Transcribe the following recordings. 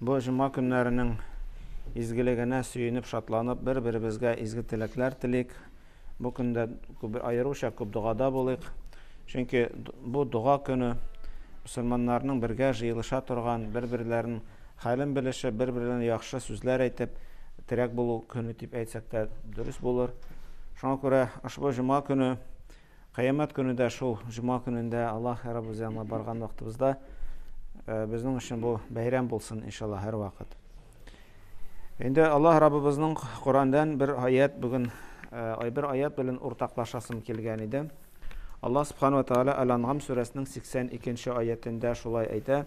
Бу җома көннәренең изгелегенә сөенеп, шатланып, бер-беребезгә изге теләкләр телик. Бу көндә аеруча күп догада булыйк. Чөнки бу дога көне, мөселманнарның бергә җыелыша торган, бер-берләрен хәлен белешеп, бер-берләренә яхшы сүзләр әйтеп, терәк булу көне дип әйтсәк тә дөрес булыр. Шуңа күрә ошбу җома көне Кыямәт көне дә шул җома көнендә Аллаһ Раббыбыз янына барган вакытыбызда безнең өчен бу бәйрәм булсын, иншалла, һәрвакыт. Инде Аллаһ Раббыбызның Коръәннән бер аят бүген ай бер аят белән уртаклашасым килгән иде. Аллаһ Субхану ва Тааля Әл-Анъам сүрәсенең 82 нче аятендә шулай әйтә: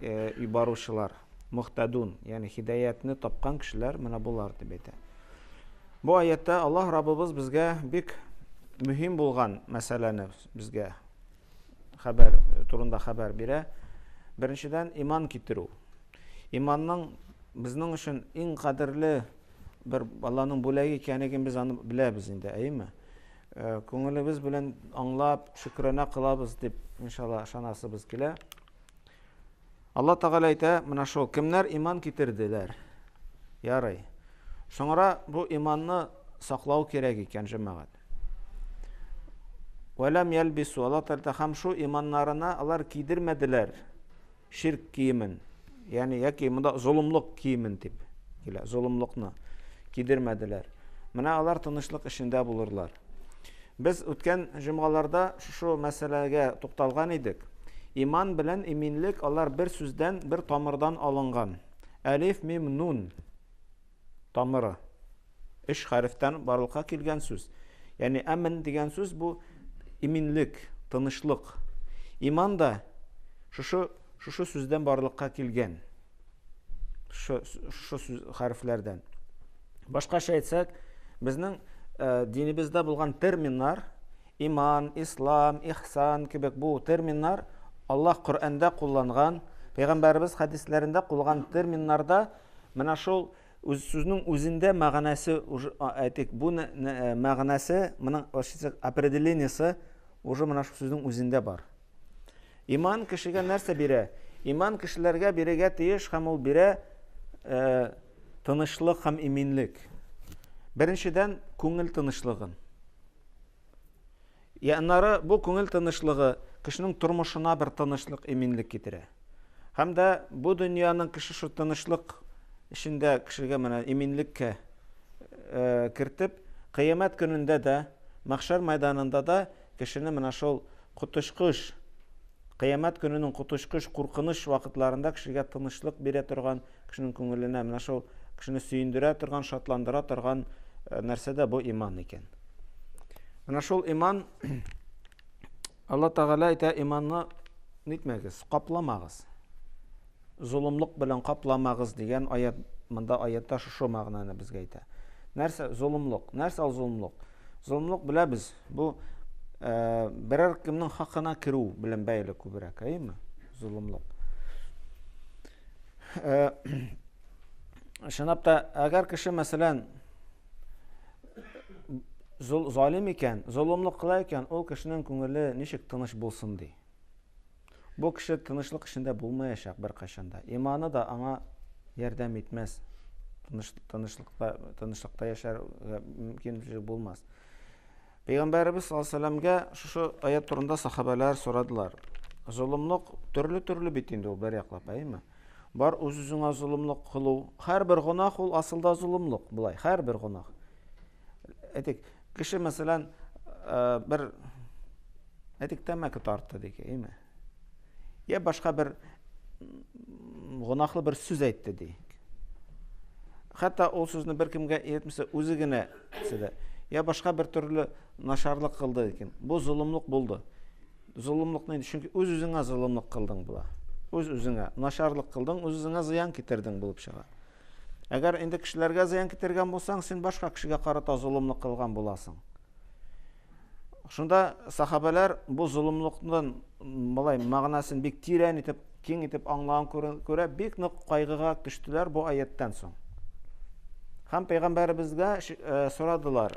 и баручылар, мөхтәдун, ягъни хидәятне тапкан кешеләр менә болар дип әйтә. Бу аятта Аллаһ Раббыбыз безгә бик мөһим булган мәсьәләне безгә хәбәр турында хәбәр бирә. Беренчедән иман китерү. Иманның безнең өчен иң кадерле бер Аллаһның бүләге икәнлеген без аны беләбез инде, әйеме? Э, күңелебез белән аңлап, шөкранә кылабыз дип, иншалла, ышанасыбыз килә. Алла Тәгалә әйтә, менә шул, кемнәр иман китерделәр? Ярый. Соңра бу иманны саклау кирәк икән, җәмәгать. Вәләм ялбису, Алла Тәгалә һәм шу иманнарына алар кидермәделәр ширк киемен. Ягъни яки монда золымлык киемен дип килә, золымлыкны кидермәделәр. Менә алар тынычлык эшендә булырлар. Без үткән җомгаларда шушы мәсьәләгә тукталган идек. Иман белән иминлек алар бер сүздән, бер тамырдан алынган. Әлиф, мим, нун тамыры. Өч хәрефтән барлыкка килгән сүз. Ягъни әмен дигән сүз бу иминлек, тынычлык. Иман да шушы шушы сүздән барлыкка килгән. шушы сүз хәрефләрдән. Башкача әйтсәк, безнең э, динебездә булган терминнар иман, ислам, ихсан кебек бу терминнар Аллаһ Коръәндә кулланган, пәйгамбәребез хәдисләрендә кулланган терминнарда менә шул үз сүзнең үзендә мәгънәсе әйтик, бу э, мәгънәсе моның определениесе уже менә шул сүзнең үзендә бар. Иман кешегә нәрсә бирә? Иман кешеләргә бирегә тиеш һәм ул бирә э, тынычлык һәм иминлек. Беренчедән, күңел тынычлыгын. Я аннары бу күңел тынычлыгы кешенең тормышына бер тынычлык, иминлек китерә. Һәм дә бу дөньяның кеше шул тынычлык эчендә кешегә менә иминлеккә э, кертеп, кыямәт көнендә дә, мәхшәр мәйданында да Кешене менә шул коточкыч, Кыямәт көненең коточкыч куркыныч вакытларында кешегә тынычлык бирә торган, кешенең күңеленә менә шул кешене сөендерә торган, шатландыра торган нәрсә дә бу иман икән. Менә шул иман, Алла Тәгалә әйтә, иманны нитмәгез, капламагыз. Золымлык белән капламагыз дигән аят, монда аятта шушы мәгънәне безгә әйтә. Нәрсә золымлык? Нәрсә ул золымлык? Золымлык беләбез, Бу э, берәр кемнең хакына керү белән бәйле күбрәк, әйеме? Золымлык. Э, Шынап та, әгәр кеше, мәсәлән, залим икән, золымлык кыла икән, ул кешенең күңеле ничек тыныч булсын ди? Бу кеше тынычлык эчендә булмаячак беркайчан да. Иманы да аңа ярдәм итмәс. Тыныч, тынычлыкта, тынычлыкта яшәргә мөмкинлеге булмас. Пәйгамбәребез саллаллаху алейһи вәсәләмгә шушы аят турында сахабәләр сорадылар. Золымлык төрле-төрле бит инде ул бер яклап, әйме? Бар үз-үзеңә золымлык кылу. Һәрбер гөнаһ ул асылда золымлык, булай, һәрбер гөнаһ. Әйтик, кеше, мәсәлән, бер әйтик, тәмәке тартты дик, әйме? Я башка бер гонахлы бер сүз әйтте ди. Хәтта ул сүзне бер кемгә әйтмәсә, үзе генә сиде. Я башка бер төрле нашарлык кылды икән. Бу золымлык булды. Золымлык нинди? Чөнки үз үзеңә золымлык кылдың була. Үз үзеңә нашарлык кылдың, үз үзеңә зыян китердең булып чыга. Әгәр инде кешеләргә зыян китергән булсаң, син башка кешегә карата золымлык кылган буласың. Шунда сахабәләр бу золымлыкның болай мәгънәсен бик тирән итеп, киң итеп аңлаган күрә, бик нык кайгыга төштеләр бу аяттан соң. Һәм пәйгамбәребезгә э, сорадылар,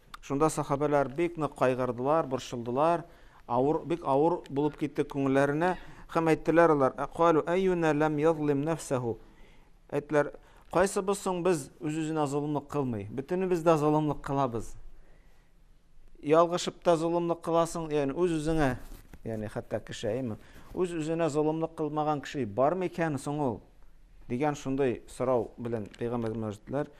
Шунда сахабәләр бик нык кайгырдылар, борчылдылар, авыр, бик авыр булып китте күңелләренә, һәм әйттеләр алар, Калу әйюнә ләм язлим нәфсәһү. Әйттеләр, кайсыбыз соң без үз-үзенә золымлык кылмый? Бөтенебез дә золымлык кылабыз. Ялгышып та золымлык кыласың, ягъни үз-үзеңә, ягъни хәтта кешееме? Үз-үзенә золымлык кылмаган кеше бар микән соң ул? Дигән шундый сорау белән пәйгамбәргә мөрәҗәгать иттеләр.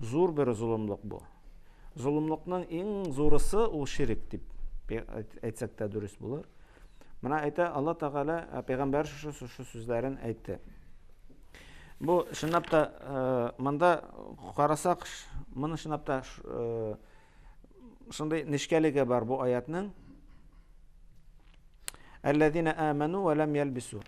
Зур бер золымлык бу. Золымлыкның иң зурысы ул ширек дип әйтсәк тә дөрес булыр. Менә әйтә Алла Тәгалә ә, пәйгамбәр шушы шушы сүзләрен әйтте. Бу чынлап та ә, монда карасак, моны чынлап та ә, Шундый нечкәлеге бар бу аятның. Әлләзина аману ва лам ялбису.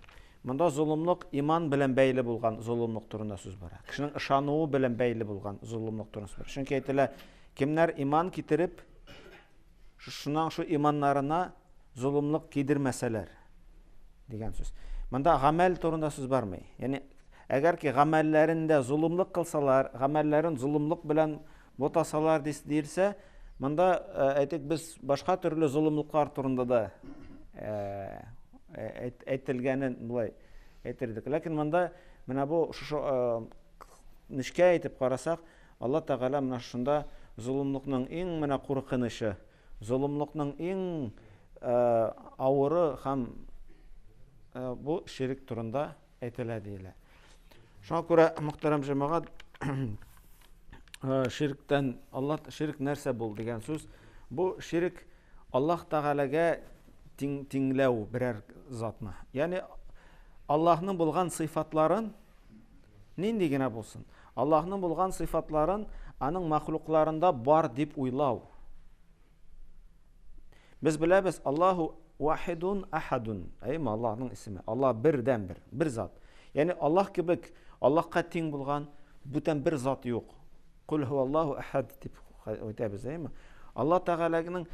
Монда золымлык иман белән бәйле булган золымлык турында сүз бара. Кешенең ышануы белән бәйле булган золымлык турында сүз бара. Чөнки әйтелә, кемнәр иман китереп, шуның шу иманнарына золымлык кидермәсәләр дигән сүз. Монда гамәл турында сүз бармый. Яни әгәр ки гамәлләрендә золымлык кылсалар, гамәлләрен золымлык белән Ботасалар дис, диелсә, монда, э, әйтик, без башка төрле золымлыклар турында да э, э, әйтелгәнен болай әйтердек. Ләкин монда менә бу шушы нечкә әйтеп карасак, Алла Тәгалә менә шунда золымлыкның иң менә куркынычы, золымлыкның иң э, авыры һәм э, бу ширик турында әйтелә диелә. Шуңа күрә, мөхтәрәм җәмәгать, ширктән Аллаһ ширк нәрсә бул дигән сүз. Бу ширк Аллаһ Тәгаләгә тиң тиңләү берәр затны. Ягъни Аллаһның булган сыйфатларын нинди генә булсын, Аллаһның булган сыйфатларын аның мәхлукларында бар дип уйлау. Без беләбез, Аллаһу вахидун ахадун. Әйме Аллаһның исеме. Аллаһ бердән бер, бер зат. Ягъни Аллаһ кебек Аллаһка тиң булган бүтән бер зат юк. Кул Аллаһу ахад дип әйтәбез, әйме? Алла Тәгаләнең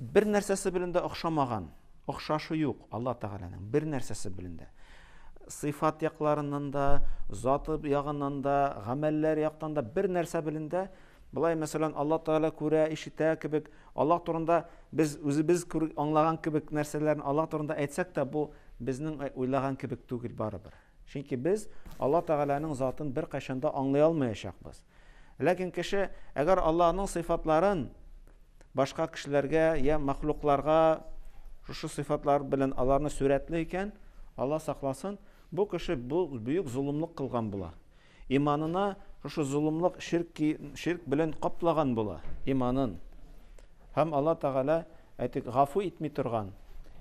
бер нәрсәсе белән дә охшамаган, охшашы юк Алла Тәгаләнең бер нәрсәсе белән дә. Сыйфат якларыннан да, заты ягыннан да, гамәлләр яктан да бер нәрсә белән дә Болай, мәсәлән, Алла Тәгалә күрә, ишетә кебек, Алла турында без үзебез аңлаган кебек нәрсәләрне Алла турында әйтсәк тә, бу безнең уйлаган кебек түгел барыбер. Чөнки без Алла Тәгаләнең затын бер кайчанда аңлый алмаячакбыз. Ләкин кеше, әгәр Аллаһның сыйфатларын башка кешеләргә я мәхлукларга шушы сыйфатлар белән аларны сүрәтли икән, Алла сакласын, бу кеше бу бөек золымлык кылган була. Иманына шушы золымлык, ширк, ки, ширк белән каплаган була, иманын. Һәм Алла Тәгалә, әйтик, гафу итми торган.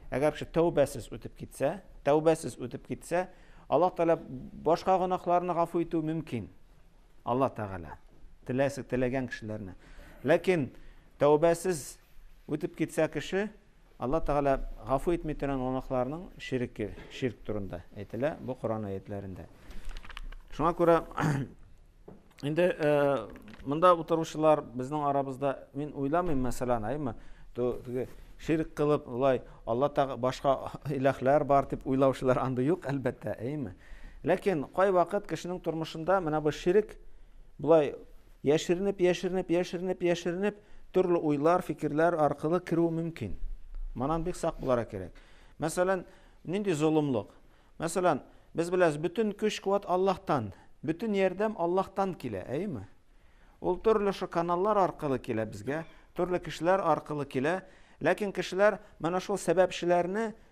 Әгәр кеше тәүбәсез үтеп китсә, тәүбәсез үтеп китсә, Алла Тәгалә башка гөнаһларны гафу итү мөмкин. Алла Тәгалә теләсе, теләгән кешеләрне. Ләкин тәүбәсез үтеп китсә кеше, Алла Тәгалә гафу итми торган гөнаһларның ширеке, ширк турында әйтелә бу Коръән аятьләрендә. Шуңа күрә инде монда утыручылар безнең арабызда мин уйламыйм, мәсәлән, әйме, теге ширк кылып, улай Алла Тәгалә башка иләхләр бар дип уйлаучылар анда юк, әлбәттә, әйме. Ләкин кай вакыт кешенең тормышында менә бу ширк булай Яшеренеп, яшеренеп, яшеренеп, яшеренеп, төрле уйлар, фикерләр аркылы керү мөмкин. Манан бик сак булара кирәк. Мәсәлән, нинди золымлык? Мәсәлән, без беләбез, бөтен көч-куәт Аллаһтан, бөтен ярдәм Аллаһтан килә, әйеме? Ул төрле шо каналлар аркылы килә безгә, төрле кешеләр аркылы килә, ләкин кешеләр менә шул сәбәпчеләрне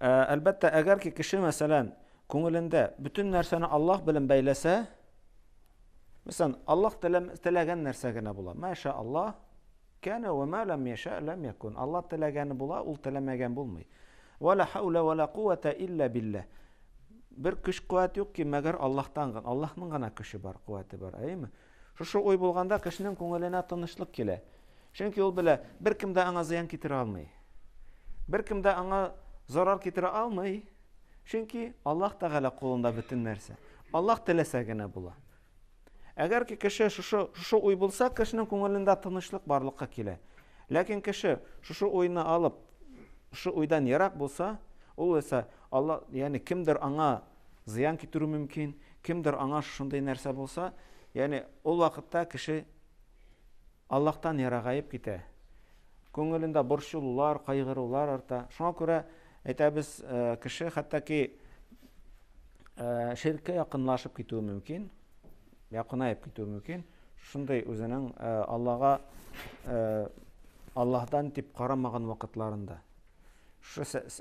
Ә, әлбәттә, әгәр ки кеше, мәсәлән, күңелендә бөтен нәрсәне Аллаһ белән бәйләсә, мәсәлән, Аллаһ теләгән нәрсә генә була. Мәшә Аллаһ, кәне ва ма лам яша лам якун. Аллаһ теләгәне була, ул теләмәгән булмый. Ва ла хаула ва ла кувата илля билля. Бер көч-куәт юк ки, мәгәр Аллаһтан гына. Аллаһның гына көче бар, куәте бар, әйеме? Шушы уй булганда кешенең күңеленә тынычлык килә. Чөнки ул белә, беркем дә аңа зыян китерә алмый. Беркем дә аңа зарар китерә алмый, чөнки Аллаһ Тәгалә кулында бөтен нәрсә. Аллаһ теләсә генә була. Әгәр ки кеше шушы шушы уй булса, кешенең күңелендә тынычлык барлыкка килә. Ләкин кеше шушы уйны алып, шушы уйдан ерак булса, ул исә Аллаһ, ягъни кемдер аңа зыян китерү мөмкин, кемдер аңа шушындый нәрсә булса, ягъни ул вакытта кеше Аллаһтан ерагаеп китә. Күңелендә борчылулар, кайгырулар арта. Шуңа күрә әйтәбез, э, кеше хәтта ки э, ширккә якынлашып китүе мөмкин, якынаеп китүе мөмкин. Шундый үзенең э, Аллага Аллаһдан дип карамаган вакытларында.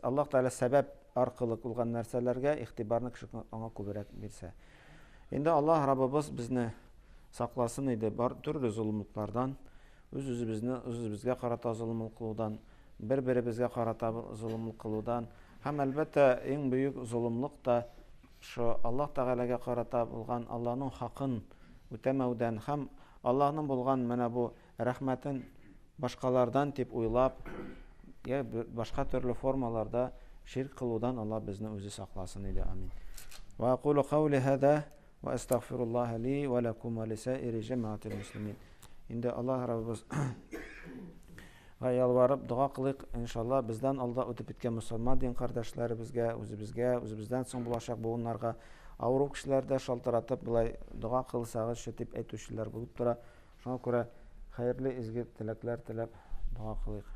Аллаһ Тәгалә сәбәп аркылы булган нәрсәләргә игътибарны кеше аңа күбрәк бирсә. Инде Аллаһ Раббыбыз безне сакласын иде бар төрле золымлыклардан, үз-үзебезне үз-үзебезгә карата золымлык кылудан, бер-беребезгә карата золымлык кылудан һәм әлбәттә иң бөек золымлык та шо Аллаһ Тәгаләгә карата булган Аллаһның хакын үтәмәүдән һәм Аллаһның булган менә бу Рәхмәтен башкалардан дип уйлап, йә башка төрле формаларда ширк кылудан Алла безне үзе сакласын иде. Амин. Ва акулу каули хада ва астагфируллаха ли ва лакум ва лисаири җәмәгатил муслимин. Инде Аллаһ Раббыбыз га ялварып дога кылыйк, иншалла, бездән алда үтеп киткән мусульман дин кардәшләребезгә, үзебезгә, үзебездән соң булачак буыннарга авыру кешеләрдә шалтыратып, болай дога кылсагызчы дип әйтүчеләр булып тора. Шуңа күрә хәерле изге теләкләр теләп дога кылыйк.